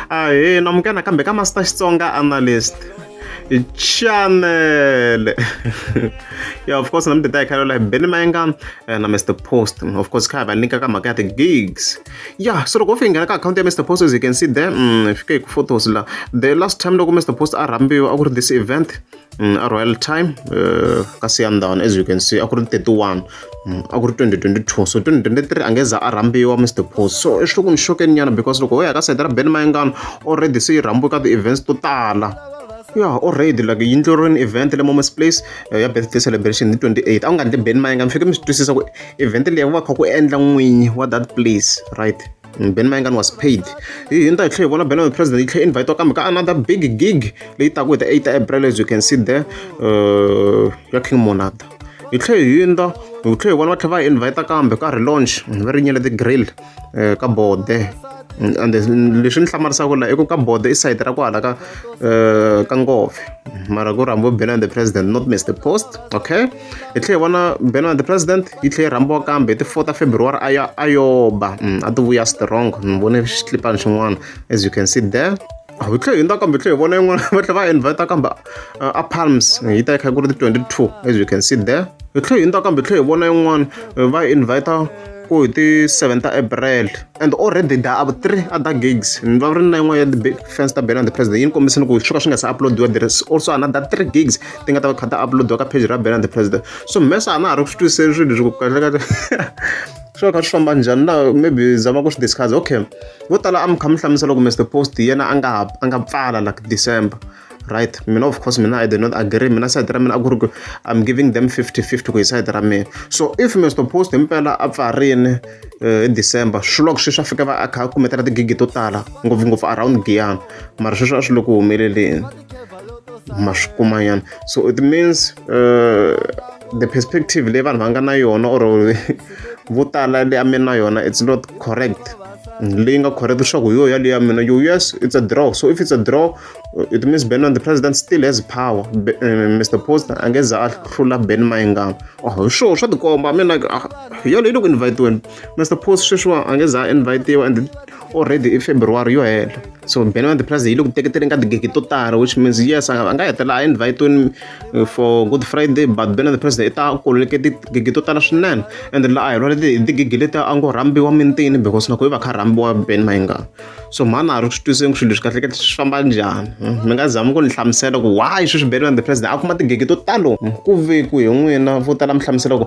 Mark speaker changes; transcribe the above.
Speaker 1: ahena munghana kambe ka master xitsonga analyst channel yeah of course namdida hi khalo like benny mayenga eh, na mr post of course kha va nyika ka mhaka ya ti-gigs yeah so loko u fike nghena ka akhawunti ya mr post as you can see there mm, fike hi ku photos la the last time loko mr post a rhambiwa a ku ri this event Mm, a royal time uh, ka siyandhawani as you can see a ku ri 31 mm, a ku ri 2022 so 2023 a nge za a rhambiwa mr post so i xiloko ni xokeni nyana because loko ho ya ka sayita ra ben mayengano already se yi rhambiwe ka ti-events to tala ya already like yindlu rini event le moments place eh, ya birthday celebration hi 28 a ku nga ndli ben mayengano fike mi swi twisisa ku event leyi ku va kha ku endla n'winyi wa that place right Mm, ben maingani was paid hi hi ni ta hi tlhe hi vona ben president yi tlhe invite kambe ka another big gig leyi taku hi ta 8 april as you can see there uh, ya king monada hi tlhe hi yinda hi tlhe hi vona va tlhe va hi invite kambe ka relaunch mm, va ri nyele ti grill uh, ka bode mm, and leswi ni hlamarisaka laha i ku ka bode i sayiti ra kwala ka uh, ka ngove mara ku rambo ben and the president not mr post okay hi tlhe hi vona mbheno ya the president yi tlhe yi rhambiwa kambe hi ti four ta february a ya a yo ba mm, a ti vuya strong ni vone xitlipani xin'wana as you can see there ah, hi tlhe hi ndza kambe hi tlhe hi vona yin'wana va tlhe va invita kambe uh, a palms yi ta yi kha ku ri ti twenty two as you can see there hi tlhe hi ndza kambe hi tlhe hi vona yin'wana uh, va invita ku hi ti seven ta april and already da a three other gigs ni va ri na yin'wana ya the fans ta bena the president yi ni kombisini ku swi ka swi nga se uploadiwa there is also another three gigs ti nga ta va kha ta uploadiwa ka page ra ben and the president so mesa a na ha ri ku swi twisiseni swilo leswi ku kahlekahle swi va kha swi famba njhani na maybe zama ku swi discuss okay vo tala a mi kha mi hlamusela ku mr post yena a nga a nga pfala like december right mina of course mina i did not agree mina side ra mina a ku ri ku i'm giving them 50 50 ku hi side ra mina so if mr post himpela a pfarini eh, hi december swi loko sweswi a fika va a kha a kumetela tigigi to tala ngopfungopfu around giyana mara sweswi a swi le ku humeleleni ma swi kuma nyana so it means uh, the perspective leyi vanhu va nga na yona or vo tala leyi a mi na yona it's not correct leyi nga correct leswaku hi yo yaleyo ya mina yo yes it's a draw so if it's a draw uh, it means ben on the president still has power Be, uh, mr post a nge za a hlula ben mayingama oh, hi sure swa tikomba i mean like uh, yaleyo loko invitiweni mr post sweswiwa a nge za a invitiwa and already i February yo hela so Ben van der Plas yi le ku teketeleni ka tigigi to tala which means yes a nga hetelela a invitweni uh, for Good Friday but Ben van der Plas i ta koleke tigigi to tala swinene and la a hi lwale tigigi leti a ngo rhambiwa mintini because na ku i va kha rhambiwa Ben Mayinga so mhani a ri swi twiseni ku swilo leswi kahlekahle swi famba njhani hmm? mi nga zami ku ni hlamusela ku why sweswi Ben van der Plas a kuma tigigi to talo ku ve ku hi n'wina vo tala mi hlamusela ku